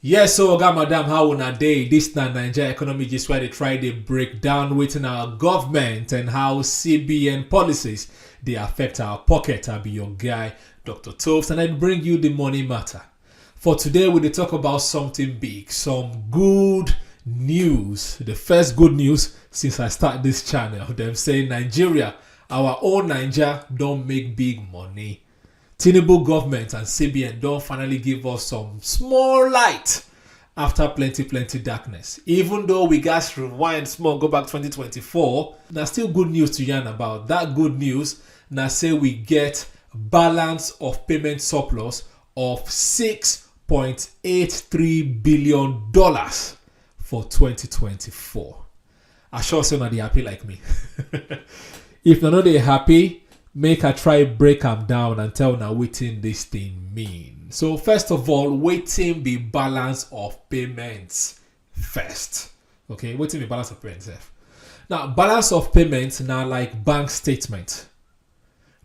yes so oga madam how una dey dis na naija economy gist wey dey try dey break down wetin our government and how cbn policies dey affect our pocket i be your guy dr tobes and i bring you the money matter For today, we dey talk about something big, some good news. The first good news since I start this channel, them say Nigeria, our own Niger, don't make big money. Tinubu government and CBN don't finally give us some small light after plenty plenty darkness. Even though we guys rewind small, go back 2024, na still good news to yarn about. That good news na say we get balance of payment surplus of $6.83 billion for 2024. I sure say na dey happy like me. if na no dey happy, make I try break am down and tell na wetin this thing mean. So first of all, wetin be balance of payments first. Okay, wetin be balance of payments sef? Now balance of payments na like bank statement.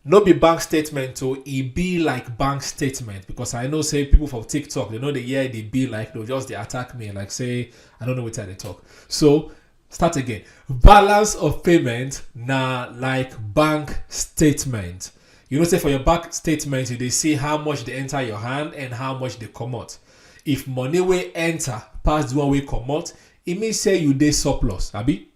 no be bank statement o e be like bank statement because i know say people for tiktok they know the year they be like they'll just they attack me like say i don't know what they talk so start again balance of payment na like bank statement you know say for your bank statement you they see how much they enter your hand and how much they come out if money will enter pass the one way come out e mean say you dey surplus abi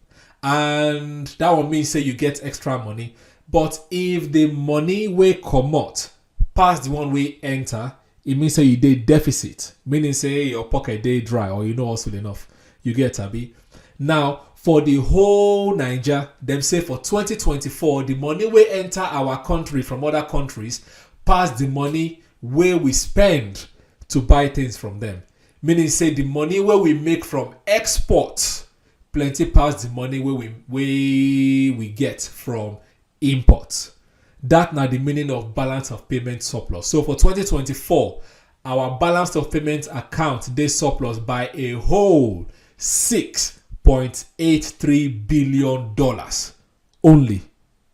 and that one mean say you get extra money but if the money wey comot pass the one wey enter e mean say you dey deficit meaning say your pocket dey dry or you no hustle enough you get abi now for the whole naija dem say for 2024 the money wey enter our country from other countries pass the money wey we spend to buy things from them meaning say the money wey we make from export plenty pass the money wey we wey we get from import that na the meaning of balance of payment surplus so for 2024 our balance of payment account dey surplus by a whole 6.83 billion dollars only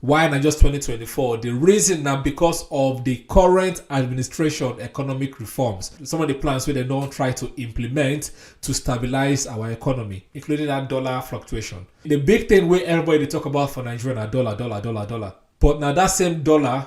Why na just 2024? The reason na because of the current administration economic reforms. Some of the plans wey dem don try to implement to stabilize our economy, including that dollar fluctuation. The big thing wey everybody dey talk about for Nigeria na dollar, dollar, dollar, dollar. But na that same dollar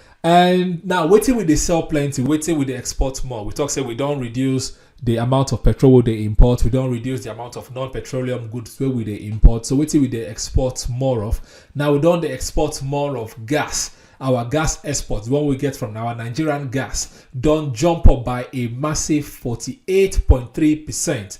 and now wetin we dey sell plenty wetin we dey export more we talk say we don reduce the amount of petrol we dey import we don reduce the amount of non-petroleum goods wey we dey import so wetin we dey export more of now we don dey export more of gas our gas exports the one we get from our nigerian gas don jump up by a massive 48.3 percent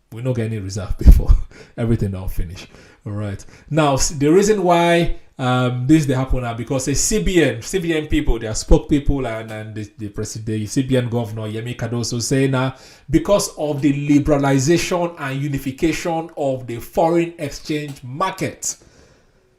we no get any reserve before everything don finish all right now the reason why um, this they happen now because the cbn cbn people their spoke people and, and the, the president the cbn governor yemi cardoso say now because of the liberalization and unification of the foreign exchange market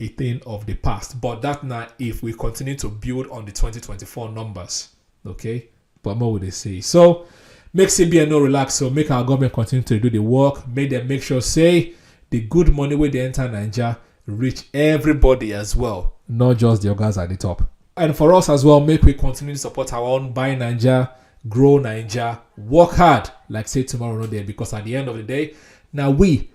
a thing of the past. But that now, if we continue to build on the 2024 numbers, okay, but more would they say? So make CBN no relax. So make our government continue to do the work. Make them make sure say the good money where they enter Niger reach everybody as well, not just the guys at the top. And for us as well, make we continue to support our own buy Niger, grow Niger, work hard, like say tomorrow not there, because at the end of the day, now we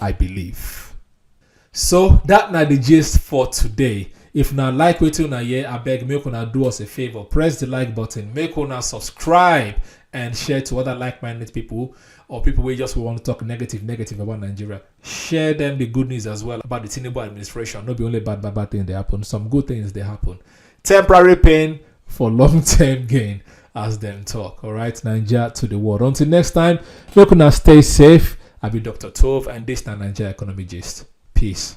I believe. So that na the gist for today. If na like wetin una hear, abeg make una do us a favor. Press the like button, make una subscribe and share to other like-minded people or people who just want to talk negative, negative about Nigeria. Share them the good news as well about the Tinubu administration. Not be only bad, bad, bad things they happen. Some good things they happen. Temporary pain for long term gain, as them talk. All right, Nigeria to the world. Until next time, make una stay safe. I be Dr. Tove, and this na Nigeria Economy Gist. Peace.